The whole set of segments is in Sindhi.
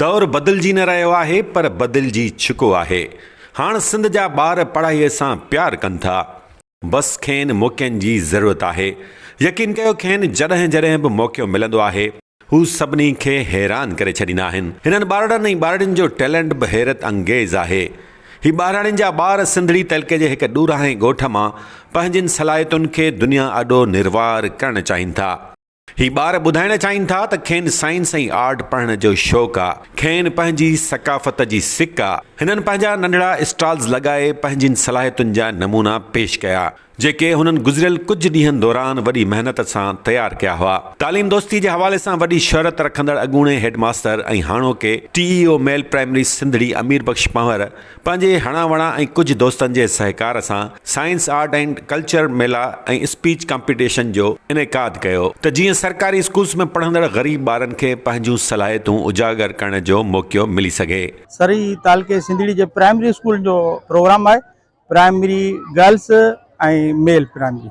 دور بدلجي نه رهيو آهي پر بدلجي چڪو آهي هاڻ سنڌ جا ٻار پڙهائي سان پيار ڪن ٿا بس کين موقعن جي ضرورت آهي يقين ڪيو کين جڏهن جڏهن به موقعو ملندو آهي هو سڀني کي حيران ڪري ڇڏيندا آهن هنن ٻارڙن ۽ ٻارڙين جو ٽيلنٽ به حيرت انگيز آهي هي ٻاهراڙين جا ٻار سنڌڙي تعلقي جي هڪ ڏورانهين ڳوٺ مان پنهنجين صلاحيتن کي دنيا آڏو نروار ڪرڻ چاهين ٿا. هي ٻار ٻڌائڻ چاهين ٿا ته کين سائنس ۽ آرٽ پڙهڻ جو شوق آ، کين پنهنجي ثقافت جي سڪ آ. هنن پنهنجا ننڍڙا اسٽالز لڳائي پنهنجين صلاحيتن جا نمونا پيش ڪيا، جيڪي هنن گذريل ڪجهه ڏينهن دوران وڏي محنت سان تيار ڪيا هئا. تعليم دوستي جي حوالي سان وڏي شهرت رکندڙ اڳوڻي هيڊ ماستر ۽ هاڻوڪي T E O male primary Sindhri Amir Bux Panhwar پنهنجي هڻان وڻان ۽ ڪجهه دوستن جي سهڪار سان سائنس، آرٽ ۽ ڪلچر ميلا ۽ اسپيچ ڪامپيٽيشن جو انعقاد ڪيو ته جيئن سرڪاري اسڪولز ۾ پڙهندڙ غريب ٻارن کي پنهنجون صلاحيتون اجاگر ڪرڻ جو موقعو ملي سگهي. سرهي تعلقي سنڌڙي جي پرائمري اسڪولن جو پروگرام آهي، پرائمري گرلس ۽ ميل پرائمري.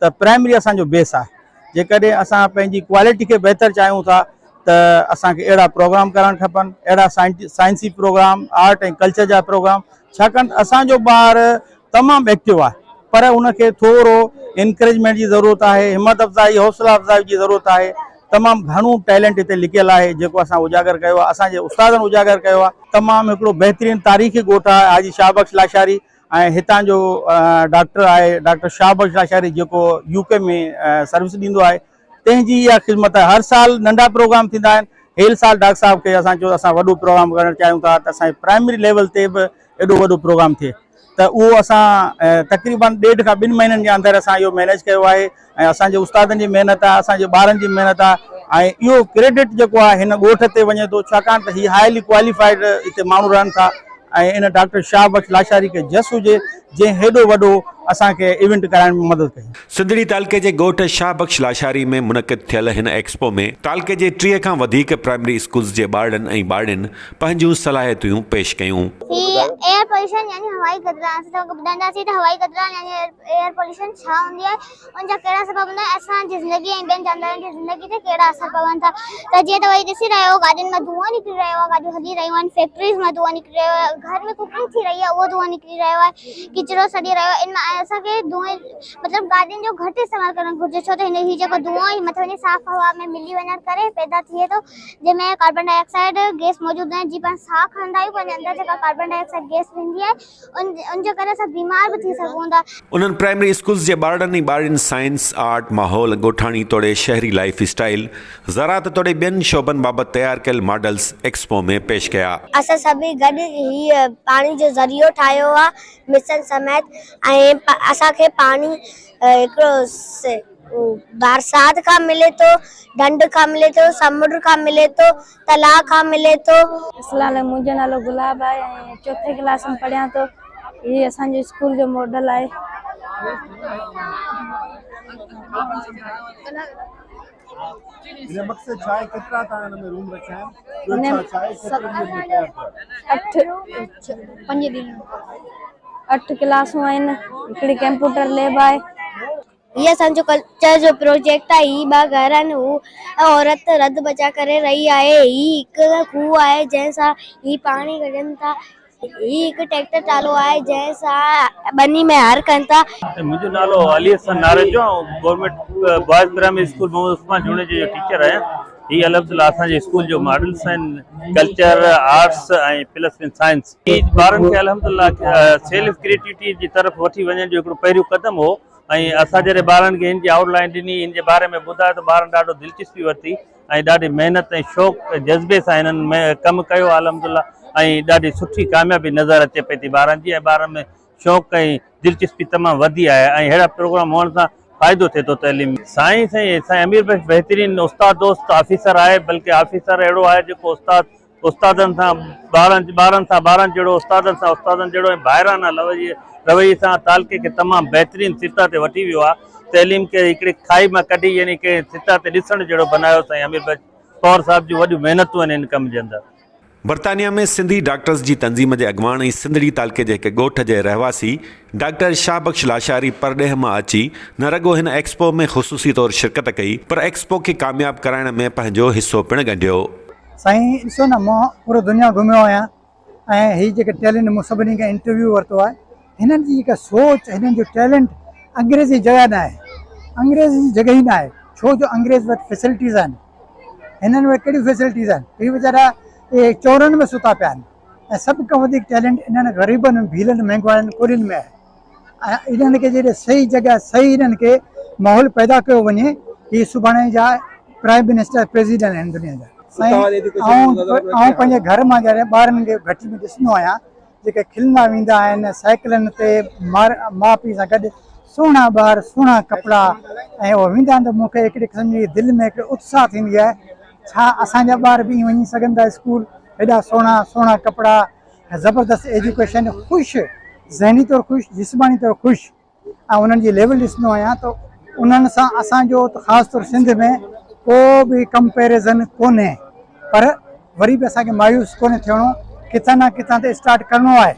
ته پرائمري اسان جو بيس آهي جيڪڏهن اسان پنهنجي ڪوالٽي کي بهتر چاهيون ٿا ته اسان کي اهڙا پروگرام ڪرڻ کپن اهڙا سائنسي پروگرام آرٽ ۽ ڪلچر جا پروگرام ڇاڪاڻ ته اسان جو ٻار تمام ايڪٽو آهي پر ان کي ٿورو انڪريجمينٽ جي ضرورت آهي همت افزائي حوصلا افزائي جي ضرورت آهي تمام گهڻو ٽيلنٽ هتي لڪيل آهي جيڪو اسان اجاگر ڪيو آهي اسان جي استادن اجاگر ڪيو آهي تمام هڪڙو بهترين تاريخي ڳوٺ آهي حاجي شاهه بخش لاشاري ۽ هتان جو ڊاڪٽر آهي ڊاڪٽر شاهه بخش لاشاري جيڪو يو ڪي ۾ سروس ڏيندو آهي تنهن جي اها خدمت آهي هر سال ننڍا پروگرام ٿيندا آهن هيل سال ڊاڪٽر صاحب کي اسان چيو اسان وڏو پروگرام ڪرڻ چاهيون ٿا ته اسان پرائمري ليول تي به ايڏو وڏو پروگرام ٿئي ته اهو اسان تقريبن ڏيڍ کان ٻن مهينن جي اندر اسان اهو مينيج ڪيو آهي ۽ اسان جي استادن جي محنت آ اسان جي ٻارن جي محنت آ ۽ اهو ڪريڊٽ جيڪو آ هن ڳوٺ تي وڃي ٿو ڇاڪاڻ ته هي هائلي ڪواليفائيڊ هتي ماڻهو رهن ٿا ۽ ان ڊاڪٽر شاهه بخش لاشاري کي جس هجي جنهن هيڏو وڏو اسان کي ايونٽ ڪرائڻ ۾ مدد ڪئي. سنڌڙي تعلقي جي ڳوٺ شاهه بخش لاشاري ۾ منعقد ٿيل هن ايڪسپو ۾ تعلقي جي ٽيهه کان وڌيڪ پرائمري اسڪولز جي ٻارڙن ۽ ٻارڙين پنهنجون صلاحيتيون پيش ڪيون. هي ايئر پوليوشن يعني هوائي گدرائڻ اسان توهان کي ٻڌائينداسين ته هوائي گدرائڻ يعني ايئر. ايئر پوليوشن ڇا هوندي آهي ۽ ان جا ڪهڙا سبب هوندا آهن اسان جي زندگي ۽ ٻين جاندارن جي زندگي تي ڪهڙا اثر پون ٿا ته جيئن توهين ڏسي رهيا آهيو گاڏين مان دونهون نڪري رهيو آهي گاڏيون هلي رهيون آهن فيڪٽريز مان دونهون نڪري رهيو آهي گهر ۾ ڪڪنگ ٿي رهي آهي اهو دونهون نڪري رهيو آهي ڪچرو سڙي رهيو آهي ان مان ۽ اسان کي دونهين مطلب گاڏين جو گهٽ استعمال ڪرڻ گهرجي ڇو ته هي جيڪو دونهون آهي هي مٿي وڃي صاف هوا ۾ ملي وڃڻ ڪري پيدا ٿئي ٿو جنهن ۾ ڪاربان ڊاء آڪسائيڊ گئس موجود هوندي آهي جي پاڻ ساهه کڻندا آهيون پنهنجي اندر جيڪا ڪاربان ڊاء آڪسائيڊ گئس ويندي آهي ان جي ڪري اسان بيمار به ٿي سگهون ٿا. انهن پرائمري اسڪولز جي ٻارڙن ۽ ٻارڙين سائنس، آرٽ، ماحول، ڳوٺاڻي توڙي شهري لائيف اسٽائيل، زراعت توڙي ٻين شعبن بابت تيار ڪيل ماڊلز ايڪسپو ۾ پيش ڪيا. اسان سڀئي گڏ هي پاڻي جو ذريعو ٺاهيو آهي، مشن سميت ۽ اسان کي پاڻي هڪڙو بارسات کان ملي ٿو، ڍنڍ کان ملي ٿو، سمنڊ کان ملي ٿو. تلاء کان ملي ٿو. اسلام عليڪم منهنجو نالو گلاب آهي ۽ چوٿين ڪلاس ۾ پڙهيان ٿو هي اسان جي اسڪول جو ماڊل آهي. هن مقصد ڇا آهي ڪيترا توهان هن ۾ روم رکيا آهن ٻيو ڇا ڇا آهي ست ڏينهن ۾ تيار ٿيا اٺ پنج ڏينهن اٺ ڪلاسون آهن هڪڙي ڪمپيوٽر ليب آهي. هي اسان جو ڪلچر جو پروجيڪٽ آهي، هي ٻه گهر آهن، هو ۽ عورت رڌ بچاء ڪري رهي آهي، هي هڪ کوهه آهي جنهن سان هي پاڻي ڪڍن ٿا، هي هڪ ٽريڪٽر ٽرالو آهي جنهن سان ٻني ۾ هر ڪن ٿا. منهنجو نالو علي حسن ناريجو آء government boys primary school Muhammad Usman جوڻيجي جو ٽيچر آهيان. هي الحمد لله اسان جي اسڪول جو ماڊلس آهن culture, arts ۽ plus one science. هي ٻارن کي الحمد لله سيلف ڪريٽوٽي جي طرف وٺي وڃڻ جو هڪڙو پهريون قدم هو. ۽ اسان جڏهن ٻارن کي هن جي آئوٽ لائين ڏني، هن جي باري ۾ ٻڌايو ته ٻارن ڏاڍو دلچسپي ورتي ۽ ڏاڍي محنت ۽ شوق ۽ جذبي سان هنن ڪم ڪيو آهي الحمد لله ۽ ڏاڍي سٺي ڪاميابي نظر اچي پئي ٿي ٻارن جي ۽ ٻارن ۾ شوق ۽ دلچسپي تمام وڌي آهي ۽ ههڙا پروگرام هئڻ سان فائدو ٿئي ٿو تعليم ۾. سائين سائين سائين امير بخش بهترين استاد دوست آفيسر آهي بلڪه آفيسر اهڙو آهي جيڪو استاد استادن سان ٻارن، ٻارن سان ٻارن جهڙو، استادن سان استادن جهڙو ۽ ڀائرانه لويي، رويي سان تعلقي کي تمام بهترين سطح تي وٺي ويو آ. تعليم کي هڪڙي کاهي مان ڪڍي يعني ڪنهن سطح تي ڏسڻ جهڙو بنايو سائين امير بخش ڪور صاحب جون وڏيون محنتون آهن ان ڪم جي اندر. برطانيا ۾ سنڌي ڊاڪٽرز جي تنظيم جي اڳواڻ ۽ سنڌڙي تعلقي جي هڪ ڳوٺ جي رهواسي ڊاڪٽر شاهه بخش لاشاري پرڏيهه مان اچي نه رڳو هن ايڪسپو ۾ خصوصي طور شرڪت ڪئي پر ايڪسپو کي ڪامياب ڪرائڻ ۾ پنهنجو حصو پڻ ڳنڍيو. سائين ڏسو نه مان پورو دنيا گهميو آهيان ۽ هي جيڪي ٽيلنٽ مون سڀني کان انٽرويو ورتو آهي هنن جي جيڪا سوچ هنن جو ٽيلنٽ انگريز جي جڳهه نه آهي انگريز جي جڳهه ئي نه آهي ڇو جو انگريز وٽ فيسلٽيز آهن هنن وٽ ڪهڙيون فيسلٽيز آهن هي ويچارا اهي چورن ۾ ستا پيا آهن ۽ سڀ کان وڌيڪ ٽيلنٽ انهن غريبن ڀيلن مهنگواڙن ڪوڏين ۾ آهي انهن کي جڏهن صحيح جڳهه صحيح انهن کي ماحول پيدا ڪيو وڃي هي سڀاڻي جا پرائيم منسٽر پريزيڊنٽ آهن دنيا جا سائين آئون پنهنجي گهر مان جڏهن ٻارن کي گهٽي ۾ ڏسندو آهيان جيڪي کلندا ويندا آهن سائيڪلن تي ماء پيء سان گڏ سهڻا ٻار سهڻا ڪپڙا ۽ اهو ويندا آهن ته مون کي هڪڙي قسم جي دل ۾ هڪڙي اتساهه ٿيندي آهي ڇا اسان جا ٻار به ائين وڃي سگهن ٿا اسڪول هيڏا سهڻا سهڻا ڪپڙا زبردست ايجوڪيشن خوش ذهني طور خوش جسماني طور خوش ۽ انهن جي ليول ڏسندو آهيان ته انهن سان اسان جو ته خاص طور سنڌ ۾ ڪو به ڪمپيرزن ڪونهي پر وري به اسان کي مايوس ڪونهي ٿيڻو ڪٿان نه ڪٿان ته اسٽارٽ ڪرڻو آهي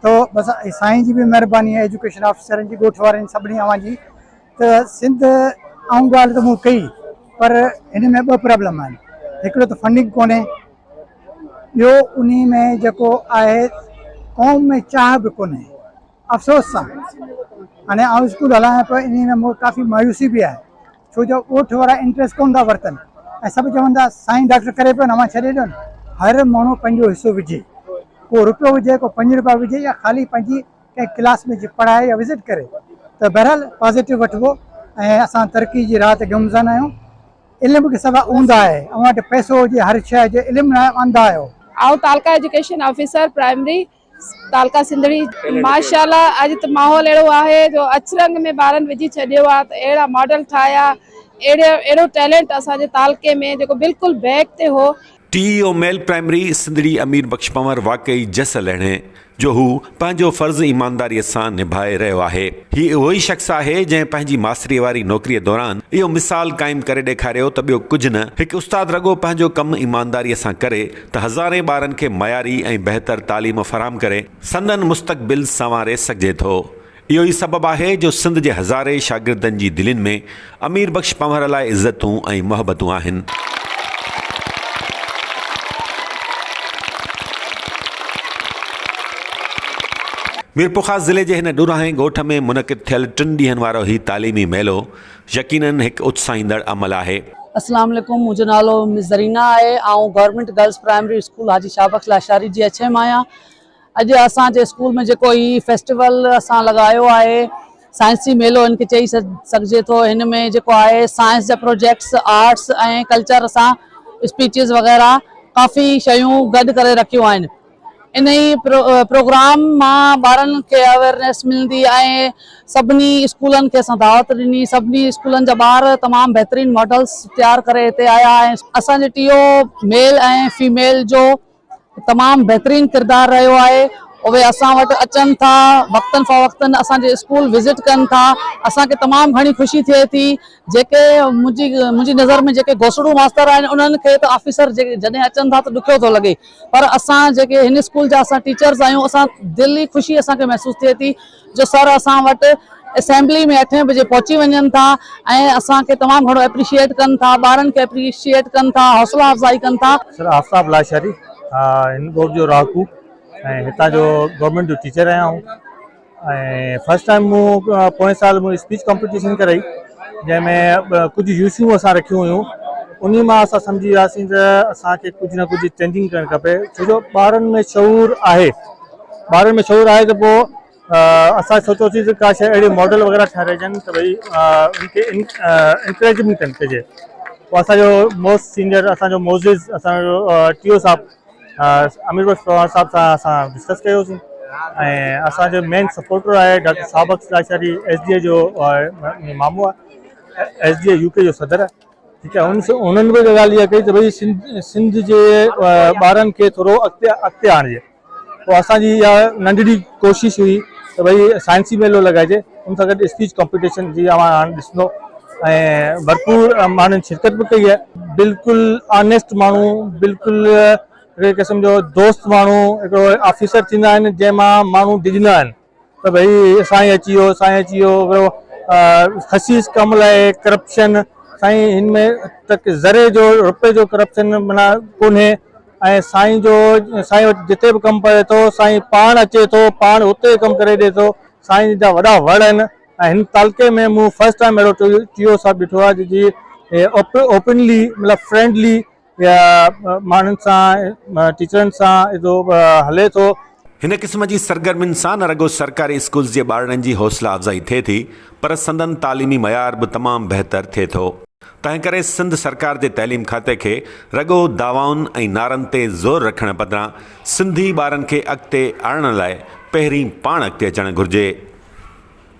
ته بس سائين جي به مهرباني آهي ايجوڪيشن آفيسرن جي ڳوٺ وارن جي سڀني اوهان جي ته سنڌ آئون ڳالهه ته مون ڪئي پر هن ۾ ٻه پرابلم آهن هڪڙو ته فنڊنگ ڪونهي ٻيو انهي ۾ جيڪو آهي قوم ۾ چاهه به ڪونهي افسوس سان هاڻي آئون اسڪول هلايان پيو انهي ۾ مون کي ڪافي مايوسي به آهي ڇو جو ڳوٺ وارا انٽريسٽ ڪونه ٿا ورتن ۽ سڀ چون ٿا سائين ڊاڪٽر ڪري پيو اوهان ڇڏي ڏيو نه هر ماڻهو پنهنجو حصو وجهي ڪو روپيو وجهي ڪو پنج روپيا وجهي يا خالي پنهنجي ڪنهن ڪلاس ۾ جي پڙهائي يا وزٽ ڪري ته بهرحال پازيٽو وٺبو ۽ اسان ترقي جي راهه تي گمزن آهيون. علم کي سوا اوندھ آھي. اوھان وٽ پئسو ھجي ھر شئي ھجي علم ناھي انڌ آھيو. آئون تعلقه ايجوڪيشن آفيسر پرائمري تعلقه سنڌڙي. ماشاءالله اڄ ته ماحول اهڙو آهي جو اڇرنگ ۾ ٻارن وجهي ڇڏيو آهي ته اهڙا ماڊل ٺاهيا اهڙو ٽيلنٽ اسان جي تعلقي ۾ جيڪو بلڪل بيڪ تي هو. T E O male primary Sindhri Amir Bux Panhwar واقعي جس لهڻي جو هو پنهنجو فرض ايمانداري سان نڀائي رهيو آهي هي اهو ئي شخص آهي جنهن پنهنجي ماستري واري نوڪري دوران اهو مثال قائم ڪري ڏيکاريو ته ٻيو ڪجهه نه هڪ استاد رڳو پنهنجو ڪم ايمانداري سان ڪري ته هزارين ٻارن کي معياري ۽ بهتر تعليم فراهم ڪري سندن مستقبل سنواري سگهجي ٿو اهو ئي سبب آهي جو سنڌ جي هزارين شاگردن جي دلين ۾ امير بخش پنهور لاء عزتون ۽ محبتون آهن. ميرپورخاص ضلعي جي هن ڏورانهين ڳوٺ ۾ منعقد ٿيل ٽن ڏينهن وارو هي تعليمي ميلو يقينن هڪ اتساهيندڙ عمل آهي. اسلام عليڪم منهنجو نالو مس زرينا آهي آئون government girls primary school Haji Shah Bakhsh Lashari جي ايڇ ايم آهيان اڄ اسان جي اسڪول ۾ جيڪو هي فيسٽيول اسان لڳايو آهي سائنسي ميلو هن کي چئي سگهجي ٿو هن ۾ جيڪو آهي سائنس جا پروجيڪٽس آرٽس ۽ ڪلچر سان اسپيچز وغيره ڪافي شيون گڏ ڪري رکيون آهن انهي پروگرام مان ٻارن کي اويرنيس ملندي ۽ سڀني اسڪولن کي اسان دعوت ڏني سڀني اسڪولن جا ٻار تمام بهترين ماڊلس تيار ڪري هتي آيا ۽ اسان جي ٽي او ميل ۽ فيميل جو تمام بهترين ڪردار رهيو آهي اهي اسان وٽ اچن ٿا وقتن فوقتن اسان جي اسڪول وزٽ ڪن ٿا اسان کي تمام گهڻي خوشي ٿئي ٿي جيڪي منهنجي منهنجي نظر ۾ جيڪي گوسڙو ماستر آهن انهن کي ته آفيسر جڏهن اچن ٿا ته ڏکيو ٿو لڳي پر اسان جيڪي هن اسڪول جا اسان ٽيچرز آهيون اسان دل ئي خوشي اسان کي محسوس ٿئي ٿي جو سر اسان وٽ اسيمبلي ۾ اٺين بجي پهچي وڃن ٿا ۽ اسان کي تمام گهڻو اپريشيئيٽ ڪن ٿا ٻارن کي اپريشيئيٽ ڪن ٿا حوصلا افزائي ڪن ٿا. سر آفتاب لاشاري هن ڳوٺ جو رهاڪو ۽ هتان جو گورنمينٽ جو ٽيچر آهيان آئون ۽ فرسٽ ٽائيم مون پوئين سال مون اسپيچ ڪمپيٽيشن ڪرائي جنهن ۾ ڪجهه يوسيون اسان رکيون هيون انهي مان اسان سمجهي وياسين ته اسان کي ڪجهه نه ڪجهه چينجنگ ڪرڻ کپي ڇو جو ٻارن ۾ شعور آهي ٻارن ۾ شعور آهي ته پوء اسان سوچيوسين ته ڪا شيء اهڙي ماڊل وغيره ٺهرائجن ته ڀئي ان کي انڪريجمينٽ ڪن ڪجي پوء اسان جو موسٽ سينئر اسان جو معزز اسان جو ٽي او صاحب امير بخش پروهاڻ صاحب سان اسان ڊسڪس ڪيوسين ۽ اسان جو مين سپورٽر آهي doctor Sabiq Lashari S D A جو مامو آهي S D A U P جو صدر آهي ٺيڪ آهي ان انهن به ڳالهه اها ڪئي ته ڀئي سنڌ جي ٻارن کي ٿورو اڳتي اڳتي آڻجي پوء اسان جي اها ننڍڙي ڪوشش هئي ته ڀئي سائنسي ميلو لڳائجي، ان سان گڏ اسپيچ ڪمپيٽيشن جي اوهان هاڻ ڏسندو ۽ ڀرپور ماڻهن شرڪت به ڪئي آهي. بلڪل آنيسٽ ماڻهو، بلڪل هڪڙي قسم جو دوست ماڻهو، هڪڙو آفيسر ٿيندا آهن جنهن مان ماڻهو ڊڄندا آهن. ته ڀئي سائين اچي ويو سائين اچي ويو ورو خسيس ڪم لاء ڪرپشن سائين هن ۾ تڪ ذري جو روپي جو ڪرپشن منا ڪونهي ۽ سائين جو سائين وٽ جتي به ڪم پوي ٿو سائين پاڻ اچي ٿو پاڻ اتي ڪم ڪري ڏي ٿو سائين جا وڏا وڙ آهن ۽ هن تعلقي ۾ مون فرسٽ ٽائم اهڙو ٽي او صاحب ڏٺو آهي جي اوپنلي مطلب فرينڊلي يا ماڻهن سان ٽيچرن سان ايڌو هلي ٿو. هن قسم جي سرگرمين سان نه رڳو سرڪاري اسڪولز جي ٻارڙن جي حوصلا افزائي ٿئي ٿي پر سندن تعليمي معيار به تمام بهتر ٿئي ٿو. تنهنڪري سنڌ سرڪار جي تعليم کاتي کي رڳو دعوائن ۽ نعرن تي زور رکڻ بدران سنڌي ٻارن کي اڳتي آڻڻ لاء پهرين پاڻ اڳتي اچڻ گهرجي.